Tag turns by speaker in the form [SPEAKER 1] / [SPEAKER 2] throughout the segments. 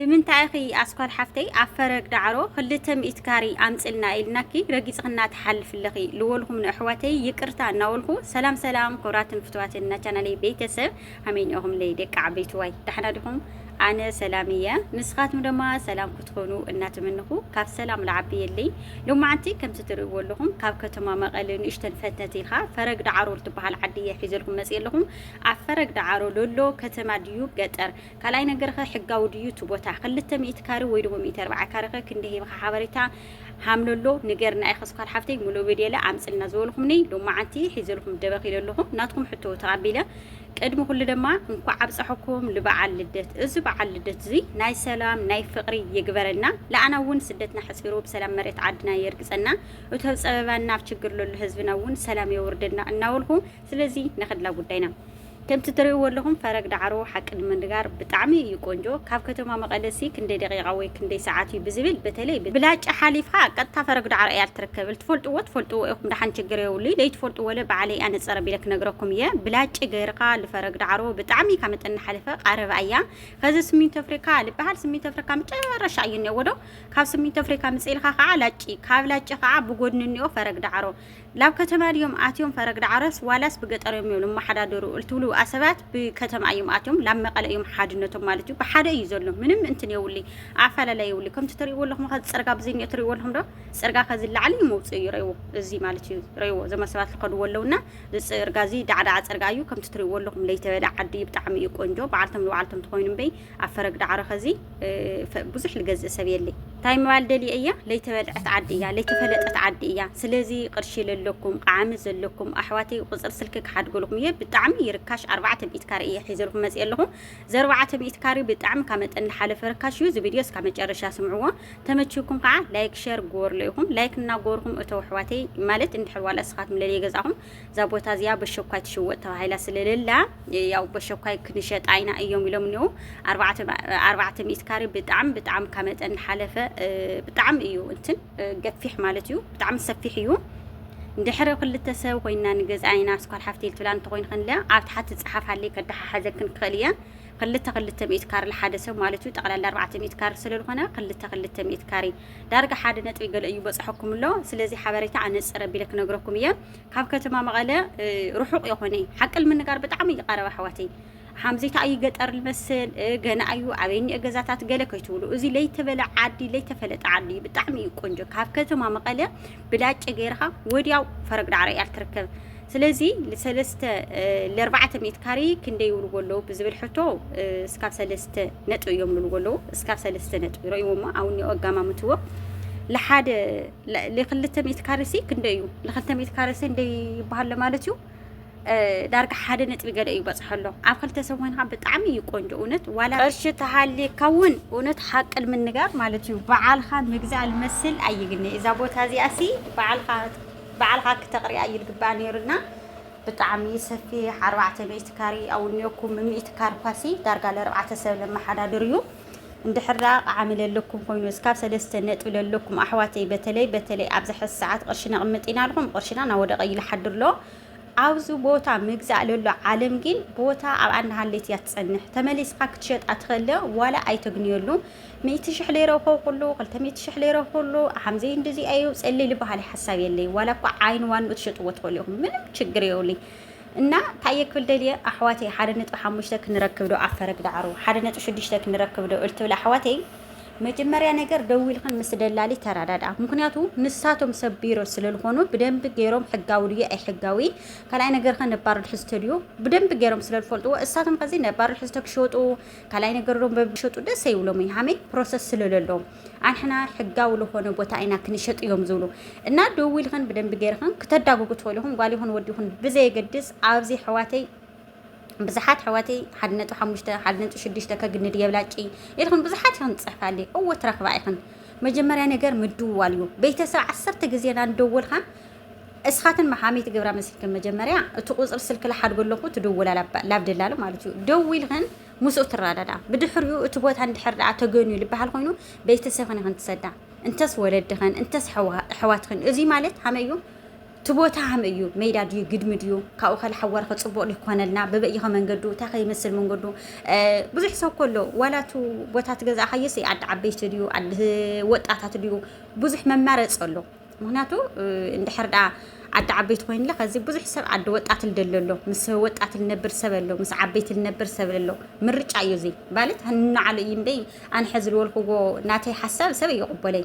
[SPEAKER 1] ብምንታይ ኢኺ ኣስኳል ሓፍተይ ኣብ ፈረግ ዳዕሮ ክልተ ሚእቲ ካሪ ኣምጽልና ኢልናኪ ረጊጽክና ትሓልፊ ኣለኺ ልወልኩም ንኣሕዋተይ ይቅርታ እናወልኩ ሰላም ሰላም ክብራትን ፍትዋትን ናቻናለይ ቤተሰብ ሃመይ ኢኹምለይ ደቂ ዓበይትዋይ ዳሕና ዲኹም ኣነ ሰላም እየ ንስኻትም ደማ ሰላም ክትኾኑ እናተመንኹ ካብ ሰላም ልዓቢ የለይ ሎማዓንቲ ከምቲ ትርእዎ ኣለኹም ካብ ከተማ መቐለ ንእሽተን ፈትነት ኢልካ ፈረግ ዳዕሮ ልትበሃል ዓዲ እየ ሒዘልኩም መጽእ ኣለኹም ኣብ ፈረግ ዳዕሮ ሎሎ ከተማ ድዩ ገጠር ካልኣይ ነገርኸ ሕጋዊ ድዩ እቲ ቦታ ክልተ ሚእቲ ካሪ ወይ ደሞ ሚእቲ ኣርብዓ ካሪኸ ክንደይ ሂብኻ ሓበሬታ ሃምለሎ ንገርና ኢኸ ስኳር ሓፍተይ ሙሉእ ቪድየለ ኣምፅልና ዝበልኹምኒ ሎማዓንቲ ሒዘልኩም ደበኽ ኢለ ኣለኹ ናትኩም ሕቶ ተቐቢለ ቅድሚ ኩሉ ደማ እንኳዕ ኣብፀሐኩም ልበዓል ልደት እዚ በዓል ልደት እዙይ ናይ ሰላም ናይ ፍቕሪ ይግበረልና ለኣና እውን ስደትና ሕፂሩ ብሰላም መሬት ዓድና የርግፀና እቱ ኣብ ፀበባና ኣብ ችግር ለሎ ህዝብና እውን ሰላም የውርደልና እናበልኹ ስለዚ ንኽድላ ጉዳይና ከምቲ ትርእይዎ ኣለኹም ፈረግ ዳዕሮ ሓቂ ንምንጋር ብጣዕሚ እዩ ቆንጆ ካብ ከተማ መቐለ ሲ ክንደይ ደቂቓ ወይ ክንደይ ሰዓት እዩ ብዝብል በተለይ ብላጭ ሓሊፍኻ ቀጥታ ፈረግ ዳዕሮ እያ ልትርከብ ልትፈልጥዎ ትፈልጥዎ ኢኹም ዳሓን ችግር የብሉይ ለይትፈልጥዎ ለ ባዕለይ እያ ነፀር ኣቢለ ክነግረኩም እየ ብላጭ ገይርኻ ልፈረግ ዳዕሮ ብጣዕሚ ካብ መጠን ናሓለፈ ቓረባ እያ ኸዚ ስሚንቶ ኣፍሪካ ልበሃል ስሚንቶ ኣፍሪካ መጨረሻ እዩ እኒኦዎ ዶ ካብ ስሚንቶ ኣፍሪካ ምፅእ ኢልኻ ኸዓ ላጭ ካብ ላጭ ኸዓ ብጎድኒ እኒኦ ፈረግ ዳዕሮ ላብ ከተማ ድዮም ኣትዮም ፈረግ ዳዕሮስ ዋላስ ብገጠር እዮም ልማሓዳደሩ ልትብሉ ኣሰባት ብከተማ እዮም ኣትዮም ላብ መቀለ እዮም ሓድነቶም ማለት እዩ ብሓደ እዩ ዘሎ ምንም እንትን የውሊ ኣፋላላይ የውሊ ከምቲ ትሪእዎ ኣለኹም ከዚ ፅርጋ ብዘይኒኦ ትሪእዎ ኣለኹም ዶ ፅርጋ ከዚ ላዕሊ እዩ መውፅእ እዩ ረይዎ እዚ ማለት እዩ ረይዎ ዘመ ሰባት ልከድዎ ኣለውና ዝፅርጋ እዚ ዳዕዳዕ ፅርጋ እዩ ከምቲ ትሪእዎ ኣለኹም ለይተበለ ዓዲ ብጣዕሚ እዩ ቆንጆ በዓልቶም ንባዕልቶም ትኮይኑ እምበይ ኣብ ፈረግ ዳዕሮ ከዚ ብዙሕ ልገዝእ ሰብ የለይ እንታይ ምባል ደልየ እያ ለይተበልዐት ዓዲ እያ ለይተፈለጠት ዓዲ እያ ስለዚ ቅርሺ ለለኩም ቃዓሚ ዘለኩም ኣሕዋተይ ቁፅር ስልኪ ክሓድገልኩም እየ ብጣዕሚ ይርካሽ ኣርባዕተ ሚእት ካሬ እየ ሒዘልኩም መፅእ ኣለኹ እዚ ኣርባዕተ ሚእት ካሬ ብጣዕሚ ካብ መጠን ዝሓለፈ ርካሽ እዩ እዚ ቪድዮ እስካብ መጨረሻ ስምዕዎ ተመችኩም ከዓ ላይክ ሸር ግበርሉ ኢኹም ላይክ እናገበርኩም እተው ኣሕዋተይ ማለት እንድሕር ዋላ እስኻትኩም ለለየ ገዛኹም እዛ ቦታ እዚኣ በሸኳይ ትሽወጥ ተባሂላ ስለሌላ ያው በሸኳይ ክንሸጣ ኢና እዮም ኢሎም እኒኡ ኣርባዕተ ሚእት ካሬ ብጣዕሚ ብጣዕሚ ካብ መጠን ሓለፈ ብጣዕሚ እዩ እንትን ገፊሕ ማለት እዩ ብጣዕሚ ሰፊሕ እዩ እንድሕሪ ክልተ ሰብ ኮይና ንገዝኣ ኢና ስኳል ሓፍተይ ልትብላ እንተኮይኑ ክንለ ኣብ ትሓቲ ፅሓፍ ኣለይ ከዳሓሓዘክን ክኽእል እየ ክልተ ክልተ ሚእት ካሬ ሓደ ሰብ ማለት እዩ ጠቕላላ ኣርባዕተ ሚእት ካሬ ስለዝኾነ ክልተ ክልተ ሚእት ካሬ ዳርጋ ሓደ ነጥቢ ገለ እዩ በጽሐኩም ኣሎ ስለዚ ሓበሬታ ኣነጽር ኣቢለ ክነግረኩም እየ ካብ ከተማ መቐለ ርሑቕ የኾነ ሓቂ ንምንጋር ብጣዕሚ ይቐረብ ኣሕዋተይ ሓምዜታ ኣዩ ገጠር ልመስል ገና ኣዩ ኣበይ እኒኦ ገዛታት ገለ ከይትብሉ እዚ ለይተበለ ዓዲ ለይተፈለጠ ዓዲ እዩ ብጣዕሚ እዩ ቆንጆ ካብ ከተማ መቐለ ብላጭ ገይርኻ ወዲያው ፈረግ ዳዕሮ እያ እትርከብ። ስለዚ ንሰለስተ ለርባዕተ ሚእት ካሪ ክንደይ ይብልዎ ኣለዉ ብዝብል ሕቶ እስካብ ሰለስተ ነጥቢ እዮም ይብልዎ ኣለዉ እስካብ ሰለስተ ነጥቢ ረእይዎ እሞ ኣብኒ ኣጋማምትዎ ለሓደ ለክልተ ሚእት ካርሲ ክንደይ እዩ ለክልተ ሚእት ካርሲ እንደይ ይበሃለ ማለት እዩ ዳርጋ ሓደ ነጥቢ ገለ እዩ በጽሖ ኣሎ ኣብ ክልተ ሰብ ኮይንካ ብጣዕሚ እዩ ቆንጆ እውነት ዋላ ቅርሺ ተሃልየካ እውን እውነት ሓቂ ንምንጋር ማለት እዩ በዓልካ ምግዛእ ልመስል ኣይግኒ እዛ ቦታ እዚኣ ሲ በዓልካ በዓልካ ክተቕሪያ እዩ ልግባእ ነይሩና ብጣዕሚ ሰፊሕ ኣርባዕተ ሚእቲ ካሪ ኣውንዮኩም ምሚእቲ ካር ኳሲ ዳርጋ ለርባዕተ ሰብ ለመሓዳድር እዩ እንድሕር ደኣ ቃዓሚ ለለኩም ኮይኑ እስካብ ሰለስተ ነጥቢ ለለኩም ኣሕዋተይ በተለይ በተለይ ኣብዚ ሕዚ ሰዓት ቅርሺ ነቕምጥ ኢና ኣልኩም ቅርሽና ናወደቐ እዩ ልሓድር ኣሎ ኣብዚ ቦታ ምግዛእ ለሎ ዓለም ግን ቦታ ኣብኣ እናሃለየት እያ ትጸንሕ ተመሊስካ ክትሸጣ ትኸለ ዋላ ኣይተግንየሉ ሚእቲ ሽሕ ለይረኸው ኩሉ ክልተ ሚእቲ ሽሕ ለይረኸው ኩሉ ሓምዘይ እንደዚ ኣዩ ጸልሊ በሃሊ ሓሳብ የለይ ዋላ እኳ ዓይን ዋንኡ ትሸጥዎ ትኸሉ ኢኹም ምንም ችግር የውልኝ እና እንታይ እየ ክብል ደልየ ኣሕዋተይ ሓደ ነጥቢ ሓሙሽተ ክንረክብ ዶ ኣፈረግ ዳዕሮ ሓደ ነጥቢ ሽዱሽተ ክንረክብ ዶ እልትብል ኣሕዋተይ መጀመርያ ነገር ደዊልክን ምስ ደላሊ ተረዳድኣ። ምክንያቱ ንሳቶም ሰብ ቢሮ ስለልኾኑ ብደንቢ ገይሮም ሕጋዊ ድዩ ኣይሕጋዊ ካልኣይ ነገር ከ ነባር ትሕዝቶ ድዩ ብደንቢ ገይሮም ስለልፈልጥዎ እሳቶም ከዚ ነባር ትሕዝቶ ክሸጡ ካልኣይ ነገር ዶም በብሸጡ ደስ ይብሎም እዩ ሃመይ ፕሮሰስ ስለለሎ ኣንሕና ሕጋዊ ዝኾነ ቦታ ኢና ክንሸጥ እዮም ዝብሉ እና ደዊልክን ብደንቢ ገይርክን ክተዳጉጉ ትፈልኹም ጓል ይኹን ወዲ ይኹን ብዘየገድስ ኣብዚ ሕዋተይ ብዝሓት ኣሕዋተይ ሓደ ነጥቢ ሓሙሽተ ሓደ ነጥቢ ሽዱሽተ ከግንድ የብላጭ ኢልክን ብዙሓት ኢኽን ትጽሕፋ ኣለ እወ ትረኽባ ኢኽን መጀመርያ ነገር ምድዋል እዩ ቤተሰብ ዓሰርተ ግዜ ናንደወልካ እስኻትን መሓሚት ግብራ መስልክን መጀመርያ እቲ ቁፅሪ ስልክ ልሓድጎ ኣለኹ ትድውላ ላብ ደላሉ ማለት እዩ ደዊልክን ምስኡ ትረዳዳ ብድሕሪኡ እቲ ቦታ እንድሕር ደኣ ተገንዩ ልበሃል ኮይኑ ቤተሰብክን ይኽን ትሰዳ እንተስ ወለድኽን እንተስ ሕዋትኽን እዙይ ማለት ሃመይ እዩ እቲ ቦታ ኸመይ እዩ? መይዳ ድዩ? ግድሚ ድዩ? ካብኡ ኸ ልሓዋር ኸ ጽቡቕ ድዩ ክኾነልና? በበይ እዩ ኸ መንገዱ? እንታይ ኸ ይመስል መንገዱ? ብዙሕ ሰብ እኮ ኣሎ ዋላ እቲ ቦታ እቲ ገዛእኻዮስ ዓዲ ዓበይቲ ድዩ? ዓዲ ወጣታት ድዩ? ብዙሕ መማረጺ ኣሎ። ምክንያቱ እንድሕር ደኣ ዓዲ ዓበይቲ ኮይኑለ ከዚ ብዙሕ ሰብ ዓዲ ወጣት ልደሎ ኣሎ ምስ ወጣት ልነብር ሰብ ኣሎ ምስ ዓበይቲ ልነብር ሰብ ኣሎ ምርጫ እዩ እዚ ማለት ንዓሉ እዩ እምበይ ኣነ ሕዚ ልወልክዎ ናተይ ሓሳብ ሰብ እዩ ይቕበለይ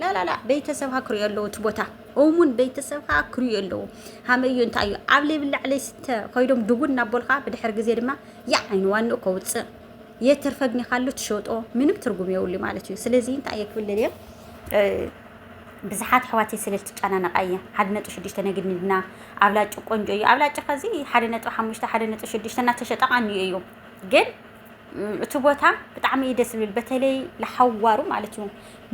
[SPEAKER 1] ላላላ ቤተሰብካ ክሪኡ ኣለዉ እቲ ቦታ እሙን ቤተሰብካ ክሪኡ ኣለዉ ሃመይ እዩ እንታይ እዩ ኣብ ለይብላዕለይ ስተ ኮይዶም ድጉን እናበሉካ ብድሕሪ ግዜ ድማ ያ ዓይኒ ዋንኡ ከውፅእ የተርፈግኒካሉ ትሸጦ ምንም ትርጉም የብሉ ማለት እዩ ስለዚ እንታይ እየ ክብል እየ ብዙሓት ኣሕዋተይ ስለ ዝትጨናነቓ እየ ሓደ ነጥቢ ሽዱሽተ ነግድና ኣብላጭ ቆንጆ እዩ ኣብላጭ ከዚ ሓደ ነጥቢ ሓሙሽተ ሓደ ነጥቢ ሽዱሽተ እናተሸጠ ቃንዩ እዩ ግን እቲ ቦታ ብጣዕሚ እዩ ደስ ዝብል በተለይ ለሓዋሩ ማለት እዩ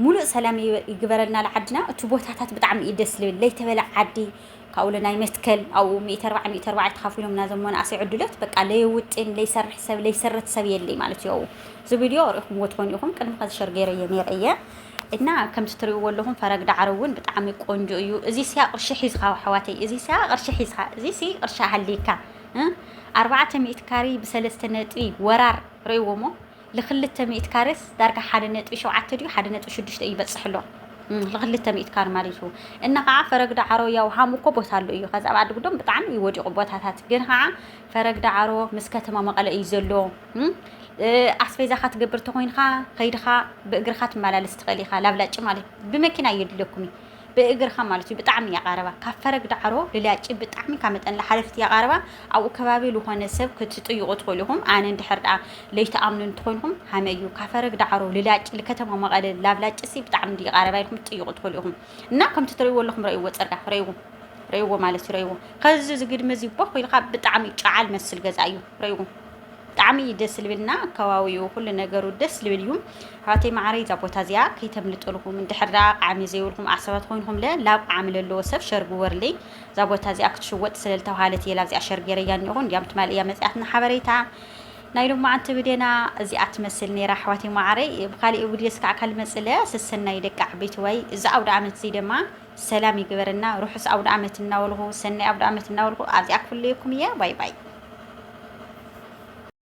[SPEAKER 1] ሙሉእ ሰላም ይግበረልና ለዓድና እቲ ቦታታት ብጣዕሚ እዩ ደስ ዝብል ለይተበለ ዓዲ ካብኡ ለናይ መትከል ኣብኡ ሚእቲ ኣርባዕ ሚእቲ ኣርባዕ ተኻፊሎምና እዞም መናእሰይ ዕድሎት በቃ ለየውጥን ለይሰርሕ ሰብ ለይሰረት ሰብ የለይ ማለት እዩ እዚ ቪድዮ ርኢኹምዎ ትኾኑ ኢኹም ቅድሚ ከዚ ሸር ገይረየ ነይረ እየ እና ከምቲ ትሪእዎ ኣለኹም ፈረግ ዳዕሮ እውን ብጣዕሚ ቆንጆ እዩ እዚ ሲያ ቅርሺ ሒዝኻ ኣሕዋተይ እዚ ሲያ ቅርሺ ሒዝኻ እዚ ሲ ቅርሺ ሃሊካ ኣርባዕተ ሚእቲ ካሪ ብሰለስተ ነጥቢ ወራር ረይዎሞ ልክልተ ሚእቲ ካሪስ ዳርጋ ሓደ ነጥቢ ሸውዓተ ድዩ ሓደ ነጥቢ ሽዱሽተ እዩ በፅሕሎ ልክልተ ሚእቲ ካሪ ማለት እዩ እና ከዓ ፈረግ ዳዕሮ ያው ሃም እኮ ቦታ ኣሉ እዩ ከዛ ኣብ ዓዲ ጉዶም ብጣዕሚ እዩ ወዲቁ ቦታታት ግን ከዓ ፈረግ ዳዕሮ ምስ ከተማ መቐለ እዩ ዘሎ ኣስቤዛኻ ትገብር ተኾይንኻ ከይድኻ ብእግርኻ ትመላለስ ትኽእል ኢኻ ላብላጭ ማለት ብመኪና እየድልየኩም እዩ ብእግርካ ማለት እዩ ብጣዕሚ እያ ቃረባ ካብ ፈረግ ዳዕሮ ልላጪ ብጣዕሚ ካብ መጠን ልሓለፍት እያ ቃረባ ኣብኡ ከባቢ ልኾነ ሰብ ክትጥይቁ ትኽእሉ ኢኹም ኣነ እንድሕር ደኣ ለይትኣምኑ እንትኾይንኹም ሃመ እዩ ካብ ፈረግ ዳዕሮ ልላጭ ልከተማ መቐለ ላብ ላጭሲ ብጣዕሚ እንድዩ ቃረባ ኢልኩም ትጥይቁ ትኽእሉ ኢኹም እና ከምቲ ትርእይዎ ኣለኹም ረእይዎ ፅርጋ ረእይዎ ረእይዎ ማለት እዩ ረእይዎ ከዚ ዝግድሚ እዚ ቦኽ ኢልካ ብጣዕሚ ጨዓል መስል ገዛ እዩ ረእይዎ ብጣዕሚ እዩ ደስ ልብልና ከባቢኡ ኩሉ ነገሩ ደስ ልብል እዩ ኣሕዋተይ መዓረይ እዛ ቦታ እዚኣ ከይተምልጥልኹም እንድሕር ደኣ ቃዕሚ ዘይብልኩም ዓሰባት ኮይንኩም ለ ላብ ቃዕሚ ለለዎ ሰብ ሸር ግበርለይ እዛ ቦታ እዚኣ ክትሽወጥ ስለ ዝተባሃለት እየ ላብዚኣ ሸር ገይረያ እኒኹ እንዲያም ትማል እያ መፅያትና ሓበሬታ ናይ ሎማዓንቲ ብዴና እዚኣ ትመስል ነይራ ኣሕዋተይ መዓረይ ብካሊእ ብድዮስ ከዓ ካልመፅለ ሰሰናይ ደቂ ዓበይቲ ዋይ እዚ ኣውደ ዓመት እዚ ደማ ሰላም ይግበረና ርሑስ ኣውደኣመት እናበልኹ ሰናይ ኣውደኣመት እናበልኹ ኣብዚኣ ክፍለየኩም እየ ባይ ባይ።